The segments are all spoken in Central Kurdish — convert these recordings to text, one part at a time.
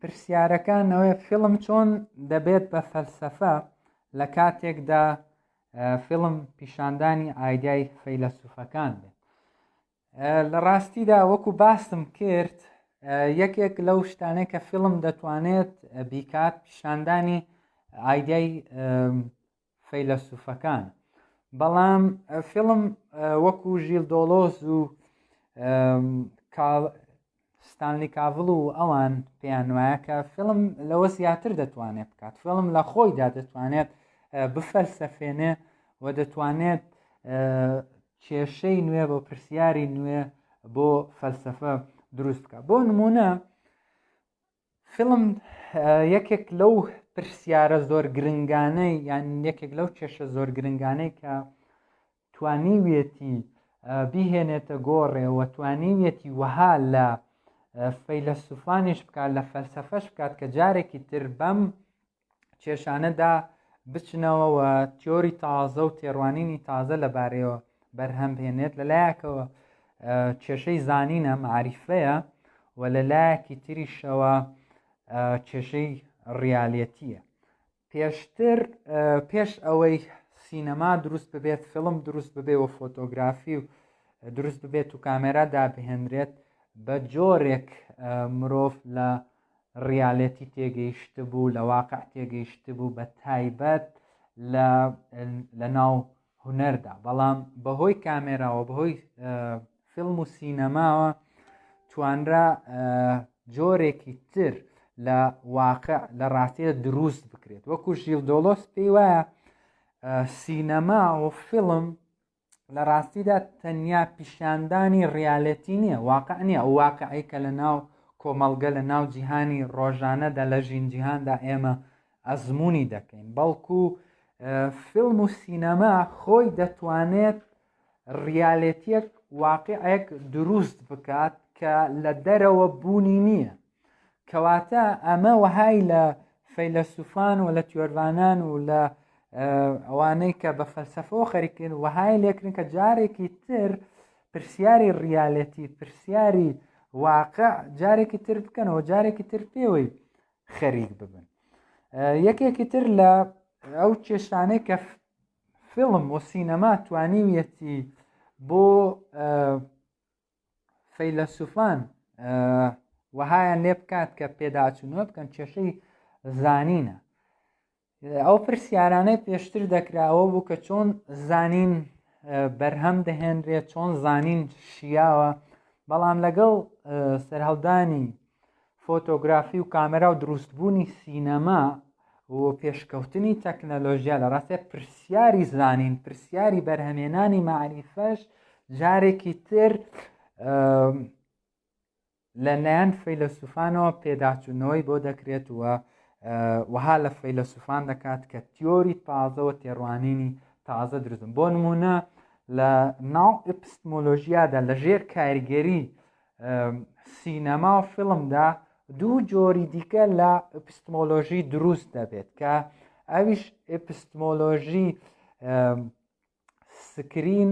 پرسیارەکە نەوەیە فیلم چۆن دەبێت بە فەلسەفە لە کاتێکدا فیلم پیشاندانی ئایدای فەیلەسوفەکان بێت لە ڕاستیدا وەکو باستم کرد یەکێک لەو شتانەی کە فیلم دەتوانێت بیکات پیشاندانی ئایدای فەیلەسوفەکان بەڵام فیلم وەکو ژیل دۆڵۆز و ستانلی کاڤڵ و ئەوان پێیان وایە کە فیلم لەوە زیاتر دەتوانێت بکات فیلم لە خۆیدا دەتوانێت بفەلسەفێنێ و دەتوانێت کێشەی نوێ بۆ پرسیاری نوێ بۆ فەلسفە دروست بکە بۆ نمونە فیلم یەکێک لەو پرسیارە زۆر گرنگانەی یان یەکێک لەو کێشە زۆر گرنگانەی کە توانیویەتی بیهێنێتە گۆڕێەوە توانیویەتی وەها لە فەیلەسوفانیش بکات لە فەلسەفەش بکات کە جارێکی تر بەم کێشانەدا بچنەوە و تیۆری تازە و تێڕوانینی تازە لەبارەیەوە بەرهەم بێنێت لە لایەکەوە کێشەی زانینە معریفەیە و لە لایەکی تریشەوە کێشەی ڕیالەتیە پێشتر پێش ئەوەی سینەما دروست ببێت فیلم دروست ببێ و فۆتۆگرافی و دروست ببێت و کامێرا دابهێنرێت بە جۆرێک مرۆڤ لە ڕیالێتی تێگەیشتبوو لە واقع تێگەیشتبوو بە تایبەت لە لە ناو هونەردا بەڵام بەهۆی کامێراوە بەهۆی فیلم و سینەماوە توانرا جۆرێکی تر لە واقع لە ڕاستیە دروست بکرێت وەکو ژیل دۆڵۆس پێی وایە سینەما و فیلم لە ڕاستیدا تەنیا پیشاندانی ڕیالەتی نییە واقع نییە ئەو واقعی کە لە ناو کۆمەڵگە لە ناو جیهانی ڕۆژانەدا لە ژین جیهاندا ئێمە ئەزمموی دەکەین بەڵکو فیلم و سینەما خۆی دەتوانێت ڕیالەتیەک واقعێک دروست بکات کە لە دەرەوە بوونی نییە کەواتە ئەمە وەهای لە فەیلەسوفان و لە تیۆرڤانان و لە ئەوانەی کە بە فەلسەفەوە خەریکن وەهای لێکرن کە جارێکی تر پرسیاری ڕیالەتی پرسیاری واقع جارێکی تر بکەنەوە جارێکی تر پێوەی خەریک ببن یەکێکی تر لە ئەو کێشانەی کە فیلم و سینەما توانیویەتی بۆ فەیلەسوفان وەهایان لێ بکات کە پێداچوونەوە بکەن کێشەی زانینە ئەو پرسیارانەی پێشتر دەکراوە بوو کە چۆن زانین بەرهەم دەهێنرێت چۆن زانین شیاوە بەڵام لەگەڵ سەرهەڵدانی فۆتۆگرافی و کامێرا و دروستبوونی سینەما و پێشکەوتنی تەکنەلۆژیا لە ڕاستێ پرسیاری زانین پرسیاری بەرهەمێنانی مەعریفەش جارێکی تر لە لایەن فەیلەسوفانەوە پێداچوونەوەی بۆ دەکرێت و وەها لە فەیلەسوفان دەکات کە تیۆری تازەوە تێڕوانینی تازە درزم بۆ نمونە لە ناو ئپستمۆلۆژیادا لە ژێر کاریگەری سینەما و فیلمدا دوو جۆری دیکە لە ئەپستمۆلۆژی دروست دەبێت کە ئەویش ئەپستمۆلۆژی سکرین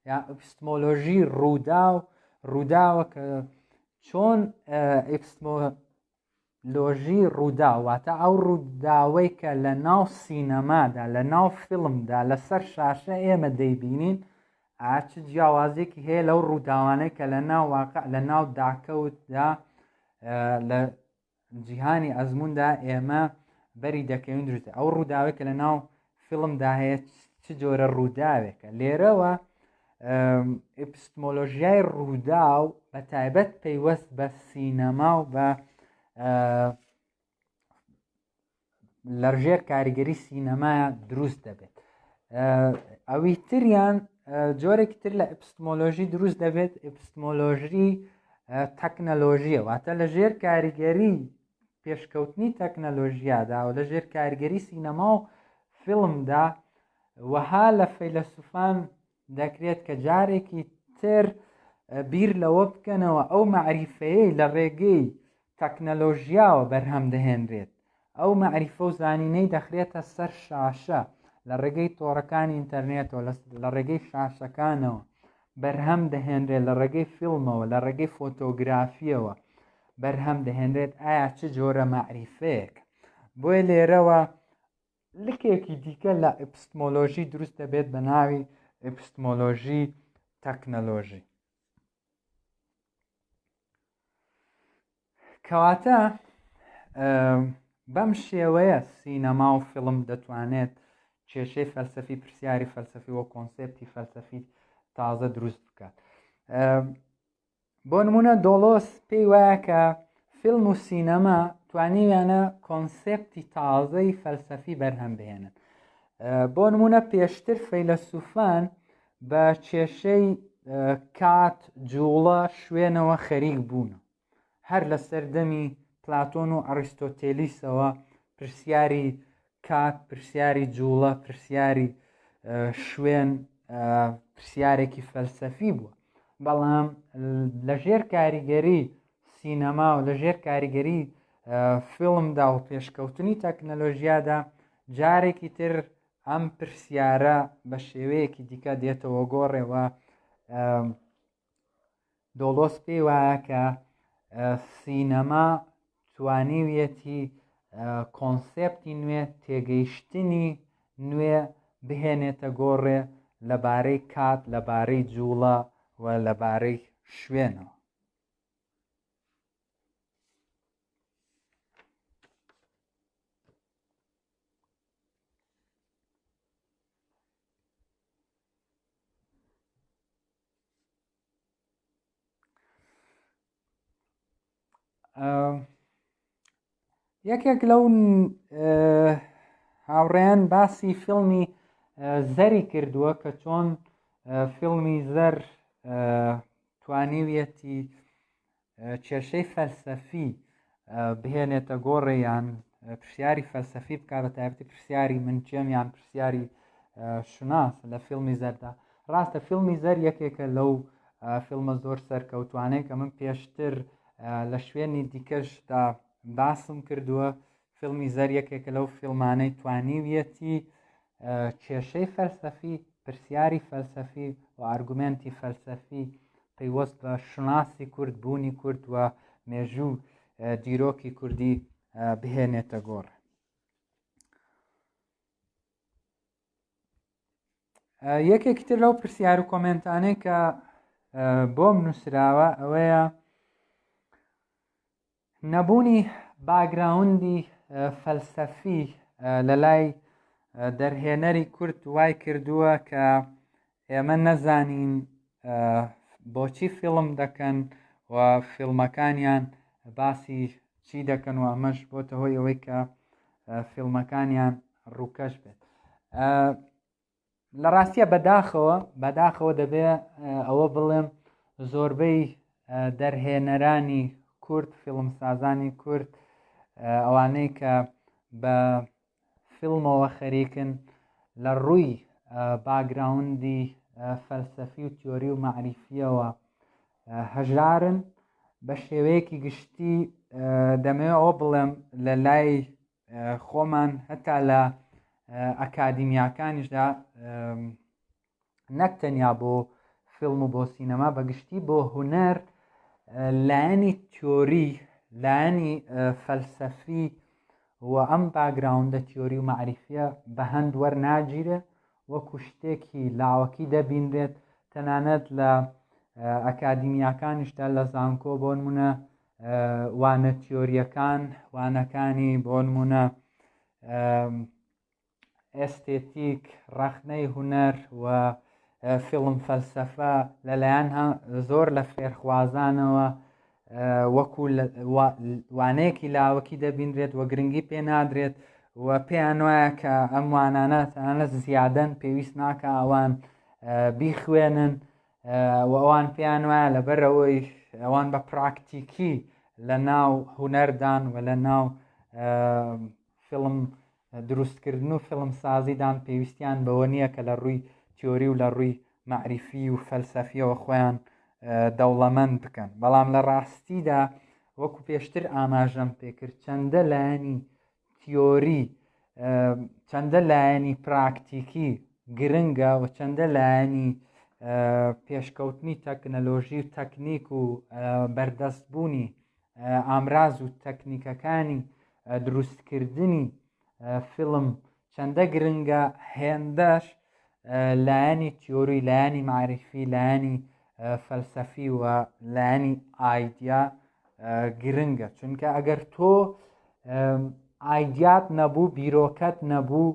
یا ئەپستمۆلۆژی ڕوودا و ڕووداوە کە چۆن لۆژی ڕووداو واتە ئەو ڕووداوەی کە لە ناو سینەمادا لە ناو فیلمدا لەسەر شاشە ئێمە دەیبینین ئاچ جیاوازێکی هەیە لەو ڕووداوانەی کە لە ناو واقع لە ناو داکەوتدا لە جیهانی ئەزموندا ئێمە بەری دەکەوین دروست ئەو ڕووداوێک کە لە ناو فیلمدا هەیە چ جۆرە ڕووداوێکە لێرەوە ئپستمۆلۆژیای ڕوودا و بە تایبەت پەیوەست بە سینەما و بە لەژێر کاریگەری سینەما دروست دەبێت ئەوی تریان جۆرێکی تر لە ئپستمۆلۆژی دروست دەبێت ئپستمۆلۆژی تەکنەلۆژیە واتە لە ژێر کاریگەری پێشکەوتنی تەکنەلۆژیادا و لە ژێر کارگەری سینەما و فیلمدا وەها لە فەیلەسوفان دەکرێت کە جارێکی تر بیر لەوە بکەنەوە ئەو مەعریفەیەی لە ڕێگەی تەکنەلۆژیاوە بەرهەم دەهێنرێت ئەو مەعریفە و زانینەی دەخرێتە سەر شاشە لە ڕێگەی تۆڕەکانی ئینتەرنێتەوە لە ڕێگەی شاشەکانەوە بەرهەم دەهێنرێت لە ڕێگەی فیلمەوە لە ڕێگەی فۆتۆگرافیەوە بەرهەم دەهێنرێت ئایا چ جۆرە مەعریفەیەک بۆیە لێرەوە لکێکی دیکە لە ئەپستمۆلۆژی دروست دەبێت بە ناوی ئەپستمۆلۆژی تەکنەلۆژی کەواتە بەم شێوەیە سینەما و فیلم دەتوانێت کێشەی فەلسەفی پرسیاری فەلسەفی و کۆنسپتی فەلسەفی تازە دروست بکات بۆ نمونە دۆڵۆس پێی وایە کە فیلم و سینەما توانیویانە کۆنسپتی تازەی فەلسەفی بەرهەم بهێنن بۆ نمونە پێشتر فەیلەسوفان بە کێشەی کات جوڵە شوێنەوە خەریک بوون هەر لە سەردەمی پلاتۆن و ئەڕیستۆتێلیسەوە پرسیاری کات پرسیاری جوڵە پرسیاری شوێن پرسیارێکی فەلسەفی بووە بەڵام لە ژێر کاریگەری سینەما و لە ژێر کاریگەری فیلمدا و پێشکەوتنی تەکنەلۆژیادا جارێکی تر ئەم پرسیارە بە شێوەیەکی دیکە دێتەوە گۆڕێەوە دۆڵۆس پێی وایە کە سینەما توانیویەتی کۆنسێپتی نوێ تێگەیشتنی نوێ بهێنێتە گۆڕێ لەبارەی کات لەبارەی جووڵە و لەبارەی شوێنەوە یەکێک لەو هاوڕێن باسی فیلمی زەری کردووە کە چۆن فیلمی زەر توانیویەتی کێشەی فەلسەفی بهێنێتە گۆڕێ یان پرسیاری فەلسەفی بکە بە تایبەتی پرسیاری من کێم یان پرسیاری شوناس لە فیلمی زەردا ڕاستە فیلمی زەر یەکێکە لەو فیلمە زۆر سەرکەوتوانەیە کە من پێشتر لە شوێنی دیکەشدا باسم کردووە فیلمی زەر یەکێکە لەو فیلمانەی توانیویەتی کێشەی فەلسەفی پرسیاری فەلسەفی و ئارگومنتی فەلسەفی پەیوەست بە شوناسی کورد بوونی کورد و مێژوو دیرۆکی کوردی بهێنێتە گۆڕ یەکێکی تر لەو پرسیار و کۆمنتانەی کە بۆم نووسراوە ئەوەیە نەبوونی باگراوندی فەلسەفی لە لای دەرهێنەری کورد وای کردووە کە ئێمە نەزانین بۆچی فیلم دەکەن و فیلمەکانیان باسی چی دەکەن و ئەمەش بۆتە هۆی ئەوەی کە فیلمەکانیان ڕووکەش بێت لە ڕاستیە بەداخەوە بەداخەوە دەبێ ئەوە بڵێم زۆربەی دەرهێنەرانی کورد فیلمسازانی کورد ئەوانەی کە بە فیلمەوە خەریکن لە ڕووی باگراوندی فەلسەفی و تیۆری و معریفیەوە هەژارن بە شێوەیەکی گشتی دەمەوێت ئەوە بڵێم لە لای خۆمان هەتا لە ئەکادیمیاکانیشدا نەک تەنیا بۆ فیلم و بۆ سینەما بەگشتی بۆ هوەر لایەنی تۆری لایەنی فەلسەفی و ئەم باگراوندە تیۆری و معریفە بە هەند وەرناگیرێ وەکو شتێکی لاوەکی دەبینرێت تەنانەت لە ئەکادیمیاکانیشدا لە زانکۆ بۆ نمونە وانە تیۆریەکان وانەکانی بۆ نمونە ئێستێتیک ڕەخنەی هوەر و فیلم فەلسەفە لەلایەن زۆر لە فێرخوازانەوە وەکو وانەیەکی لاوەکی دەبینرێت و گرنگی پێ نادرێت و پێیان وایە کە ئەم وانانە تەنانە زیادەن پێویست ناکە ئەوان بیخوێنن و ئەوان پێیان وایە لەبەرەوەیش ئەوان بە پراکتیکی لە ناو هوەردان و لە ناو فیلم دروستکردن و فیلم سازیدان پێویستیان بەوە نییە کە لە ڕووی تیۆری و لە ڕووی معریفی و فەلسەفیەوە خۆیان دەوڵەمەند بکەن بەڵام لە ڕاستیدا وەکو پێشتر ئاماژەم پێکرد چەندە لایەنی تیۆری چەندە لایەنی پراکتیکی گرنگە و چەندە لایەنی پێشکەوتنی تەکنەلۆژی و تەکنیک و بەردەستبوونی ئامراز و تەکنیکەکانی دروستکردنی فیلم چەندە گرنگە هێندەش لایەنی تیۆری لایەنی معریفی لایەنی فەلسەفی و لایەنی ئایدیا گرنگە چونکە ئەگەر تۆ ئایدیات نەبوو بیرۆکەت نەبوو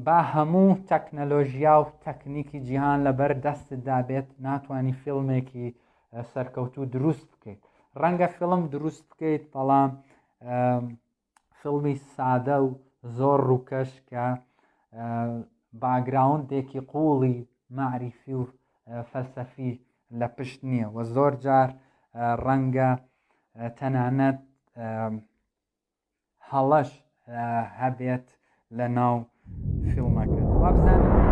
با هەموو تەکنەلۆژیا و تەکنیکی جیهان لەبەر دەستتدا بێت ناتانی فیلمێکی سەرکەوتو دروست بکەیت ڕەنگە فیلم دروست بکەیت بەڵام فیلمی سادە و زۆر ڕووکەش کە باگراوندێکی قوڵی معریفی و فەلسەفی لە پشت نییە و زۆر جار ڕەنگە تەنانەت هەڵەش هەبێت لە ناو فیلمەکە وابزانم